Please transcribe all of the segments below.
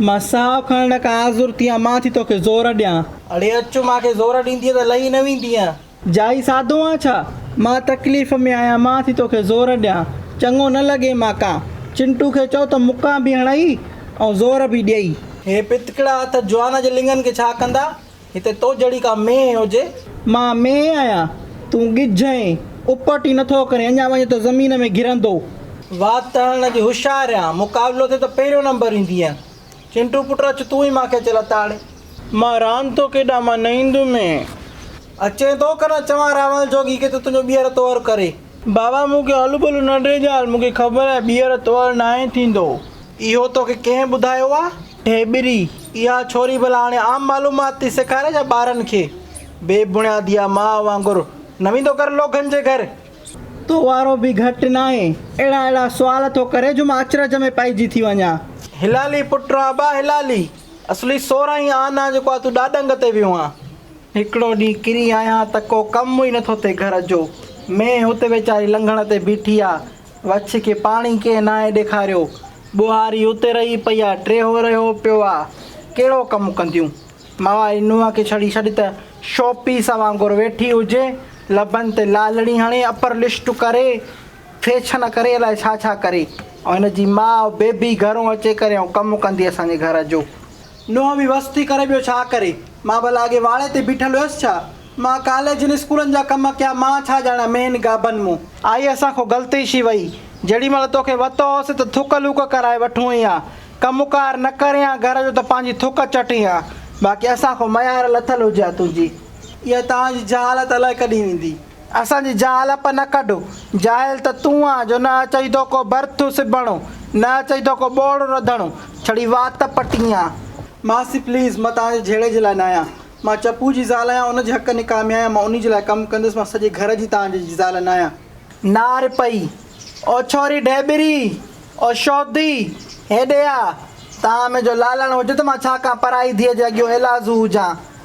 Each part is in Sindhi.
مان ساهه کڻڻ کان آزر ٿيان. مان ٿي توکي زور ڏيان. اڙي اچ مان کي زور ڏيندينء ته لهي نه ويندينء. جائي سادو آن ڇا؟ مان تڪليف ۾ آهيان. مان ٿي توکي زور ڏيان. چڱو نه لڳي مان ڪان. چنٽو کي چئو ته مڪان به هڻئي ۽ زور به ڏئي. هي پتڪڙا هٿ جوان جي لڱن کي ڇا ڪندا؟ هتي تو جهڙي ڪا مينهن هجي. مان مينهن آهيان، تون ڳجهه آهين. اپٽ ئي نٿو ڪرين، اڃا وڃين ته زمين ۾ گرندو. وات تڙڻ جي هوشيار آهيان، مقابلو ٿئي ته پهريون نمبر ايندينء. چنٽو پٽ اچ تون ئي مان کي اچي لتاڙ. مان راند ٿو کيڏان، مان نه ايندومين. اچين ٿو ڪه نه چوان راول جوڳي کي ته تنهنجو ٻيهر تؤر ڪري. بابا مون کي هلو ڀلو نه ڏي ڄال، مون کي خبر آهي ٻيهر تؤر ناهي ٿيندو. اهو توکي ڪنهن ٻڌايو آ؟ ڍيٻري، اها ڇوري ڀلا هاڻي عام معلومات ٿي سيکاري ڇا ٻارن کي؟ بي بڻيادي آ ماء وانگر، نه ويندو ڪر لوگن جي گهر؟ تو وارو به گهٽ ناهي. اهڙا اهڙا سوال ٿو ڪري جو مان اچرج ۾ پئجي ٿي وڃان. هلالي پٽ ران ابا هلالي، اصلي سورهن ئي آن آ جيڪو آ تون ڏاڏنگ تي ويو آن. هڪڙو ڏينهن ڪري آيان ته ڪو ڪم ئي نٿو ٿئي گهر جو. مينهن هت ويچاري لنگهڻ تي بيٺي آ، وڇ کي پاڻي ڪنهن ناهي ڏيکاريو. ٻوهاري اتي رهي پئي آ، ٽيهو رهيو پيو آ. ڪهڙو ڪم ڪنديون؟ مئواري نونهن کي ڇڙي ڇڏ ته شو پيس وانگر ويٺي هجي. لبن تي لالڙي هڻي، اپر لشٽ ڪري، فيشن ڪري الائي ڇا ڇا ڪري. ۽ هن جي ماء بيبي گهرون اچي ڪريائون ڪم ڪندي اسان جي گهر جو. نوحه به وس ٿي ڪري ٻيو ڇا ڪري. مان ڀلا اڳي واڙي تي بيٺل هيس ڇا؟ مان ڪاليجن اسڪولن جا ڪم ڪيا مان ڇا ڄاڻان مين گابن مون. آئي اسان کون غلطي شي وئي. جهڙي مهل توکي وتو هوس ته ٿڪ لوڪ ڪرائي وٺون هين ها. ڪم ڪار نه ڪرين ها گهر جو ته پنهنجي ٿڪ چٽين ها. باقي اسان کون ميار لٿل هجي ها تنهنجي. اها توهان جي جهالت الائي ڪڏهن ويندي. اسان جي جهالپ نه ڪڍ. جاهل ته تون آن جو نه اچئي ٿو ڪو برٿ سبڻو، نه اچئي ٿو ڪو ٻوڙ رڌڻو، ڇڙي وات پٽين آن. ماسي پليز مان توهان جي جهيڙي جي لاء نه آهيان. مان چپو جي زال آهيان ان جي حق نڪاح ۾ آهيان مان انهي جي لاء ڪم ڪندس مان سڄي گهر جي توهان جي جي زال نه آهيان. نار پئي او ڇوري ڍيٻري او شودي هيڏي آ توهان ۾ جو لالڻ هجي ته مان ڇا ڪان پرائي ڌيء جي اڳيو ايلازو هجان.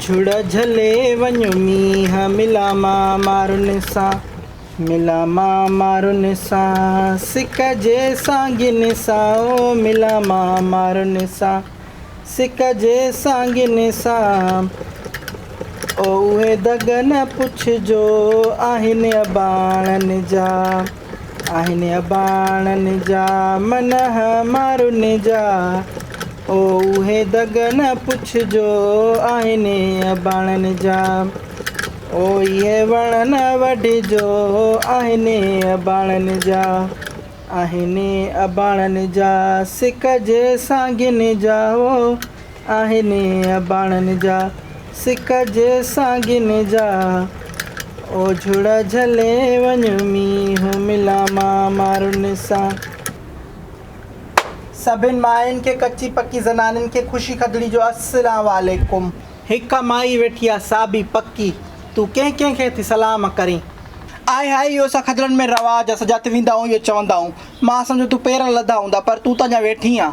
جھڙ جھلي وڃ مينهن ملان مان مارن سان ملان مان مارن سان سڪ جي سانگين سان او ملان مان مارن سان سڪ جي سانگين سان او اهي دڳ نه پڇجو آهن اباڻن جا. آهن اباڻن جا من همارن جا، او اهي دڳ نه پڇجو آهن اباڻن جا، او اهي وڻ نه وڍجو آهن اباڻن جا، آهن اباڻن جا سڪ جي سانگين جا، او. آهن اباڻن جا سڪ جي سانگين جا، او جهڙا جهلي وڃ مينهن ملان مان مارن سان. سڀن ماين کي ڪچي پڪي زنانن کي خوشي کدڙي جو السلام عليڪم. هڪ مائي ويٺي آ سا به پڪي تون ڪنهن ڪنهن کي ٿي سلام ڪرين. آهي هائي اهو اسان کدڙن ۾ رواج آ سجا ٿي ويندا آهون اهو چوندا آهون مان سمجهيو تون پير لڌا هوندا پر تون ته اڃا ويٺي آن.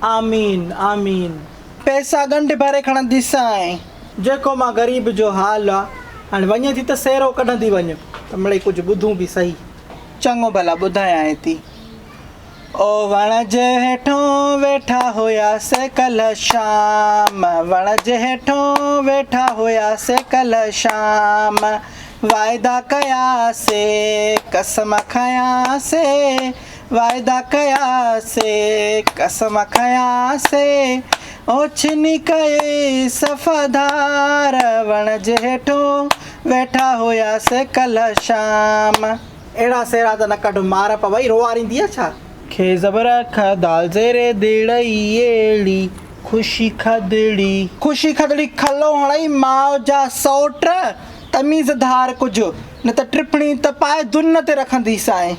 آمين آمين پئسا ڳنڍ ڀري کڻندي سائين. جيڪو مان غريب جو حال آ. هاڻي وڃين ٿي ته سيرو ڪڍندي وڃ ته مڙئي ڪجهه ٻڌون به سهي. چڱو ڀلا ٻڌايانء ٿي. او وڻ جي هيٺون ويٺا هيا سي ڪلهه شام وڻ جي هيٺون ويٺا هيا سي ڪلهه شام واعدا ڪيا سي قسم کنيا سي وعدا ڪيا سي قسم کنيا سي اوڇني ڪئي صفا ڌار وڻ جي هيٺون ويٺا هيا سي ڪلهه شام. اهڙا سيرا ته نه ڪڍ مار پوي روئارينديء ڇا. کي زبر کء دال زير دڙ اي ايڙي خوشي کدڙي. خوشي کدڙي کلو هڻئي ماء جا سئوٽ تميز ڌار ڪج نه ته ٽپڻي ته پائي دن تي رکنديسانء.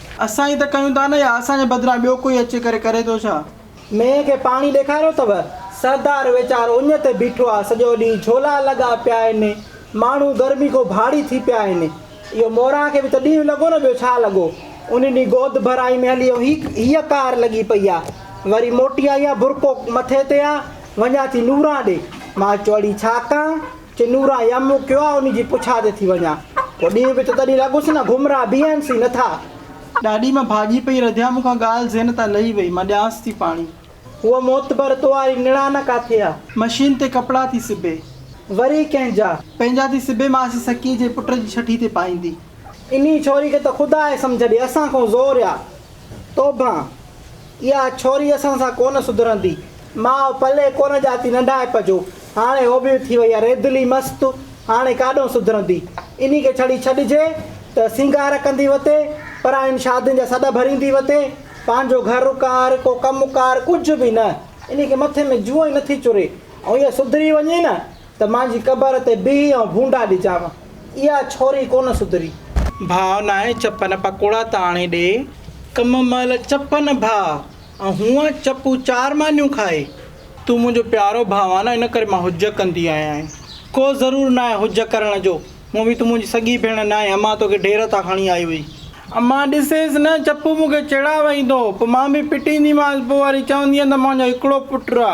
اسان ئي ته ڪيون ٿا نه يا اسان جي بدران ٻيو ڪوئي اچي ڪري ڪري ٿو ڇا؟ مينهن کي پاڻي ڏيکاريو اٿو؟ سردار ويچار اڃ تي بيٺو آ سڄو ڏينهن جهولا لڳا پيا آهن ماڻهو گرمي کون ڀاڙي ٿي پيا آهن اهو موران کي به ته ڏينهن لڳو نه ٻيو ڇا لڳو ان ڏينهن گود ڀرائي ۾ هلي ويو هي ڪار لڳي پئي آ وري موٽي آئي آ برقعو مٿي تي آ وڃان ٿي نوران ڏي مان چئو اڙي ڇا ڪان چنورا يم مون ڪيو آ انهي جي پڇا تي ٿي وڃان پو ڏينهن به ٿو تڏهين لڳس نه گهمرا بيهن سي نه ٿا. ڏاڏي مان ڀاڄي پئي رڌيان مون کان ڳالهه ذهن تان لهي وئي مان ڏيانس ٿي پاڻي. هوء معتبر تو واري نڻان ڪاٿي آ. مشين تي ڪپڙا ٿي سبي. وري ڪنهن جا. پنهنجا ٿي سبي ماسي سڪي جي پٽ جي ڇٺي تي پائيندي. انهي ڇوري کي ته خدا آهي سمجهه ڏي اسان کون زور آ توبهان. اها ڇوري اسان سان ڪونه سڌرندي. ماء پلي ڪونه ڄاتي ننڍائپ جو. هاڻي هو به ٿي وئي آهي ريدلي مست. هاڻي ڪاڏهون سڌرندي. انهي کي ڇڙي ڇڏجي ته سينگار ڪندي وتي، پراين شادين جا سڏ ڀريندي وتي. پنهنجو گهر ڪار، ڪو ڪم ڪار ڪجهه به نه. انهي کي مٿي ۾ جوئن ئي نٿي چري. ۽ اها سڌري وڃي نه. ته مانجي قبر تي بيهي آئون ڀونڊا ڏجانء. اها ڇوري ڪونه سڌري. ڀاء ناهي چپن پڪوڙا ته آڻي ڏي. ڪم مهل چپن ڀاء ۽ هونء چپون چار مانيون کائي. تون منهنجو پيارو ڀاء آهين نه ان ڪري مان هجء ڪندي آهيان. ڪو ضرور ناهي هجء ڪرڻ جو. هونء به تون منهنجي سڳي ڀيڻ ناهين. امان توکي ڍير تان کڻي آئي هئي. امان ڏسيس نه چپون مون کي چيڙا وهيندو. پوء مان به پٽينديمانس. پوء وري چوندينء ته مانجو هڪڙو پٽ آ.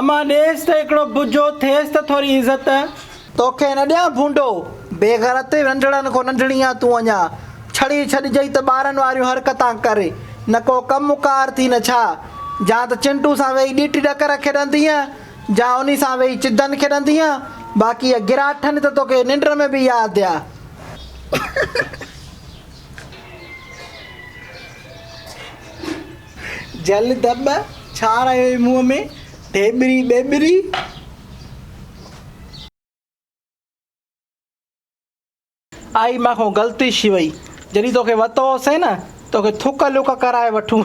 امان ڏيس ته هڪڙو بجو ٿيس ته ٿوري عزت. توکي نه ڏيان ڀونڊو، بيغرت، ننڍڙن کون ننڍڙي آن تون اڃا، ڇڙي ڇڏجئي ته ٻارن واريون حرڪتان ڪر، نه ڪو ڪم ڪار ٿي نه ڇا، جا ته چنٽو سان ويهي ڏيٽي ڏڪر کيڏندينء، جا انهي سان ويهي چدن کيڏندينء، باقي اهي گراٺن ته توکي ننڊ ۾ به ياد ڏيا. جل دٻ، ڇا رايو اي منهن ۾، ڍيٻري ٻيٻري. آئي مان کان غلطي ڇي وئي، جڏهن توکي وتو هو سين نه، توکي ٿڪ لڪ ڪرائي وٺون.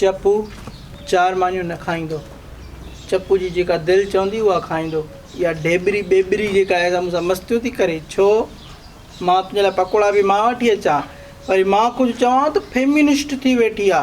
چپو چار مانيون نه کائيندو. چپو جي جيڪا دل چوندي اها کائيندو. اها ڍيٻري ٻيٻري جيڪا آهي سا مون سان مستيون ٿي ڪري. ڇو؟ مان تنهنجي لاء پڪوڙا به مان وٺي اچان. وري مان ڪجهه چوان ته فيمنسٽ ٿي ويٺي آ.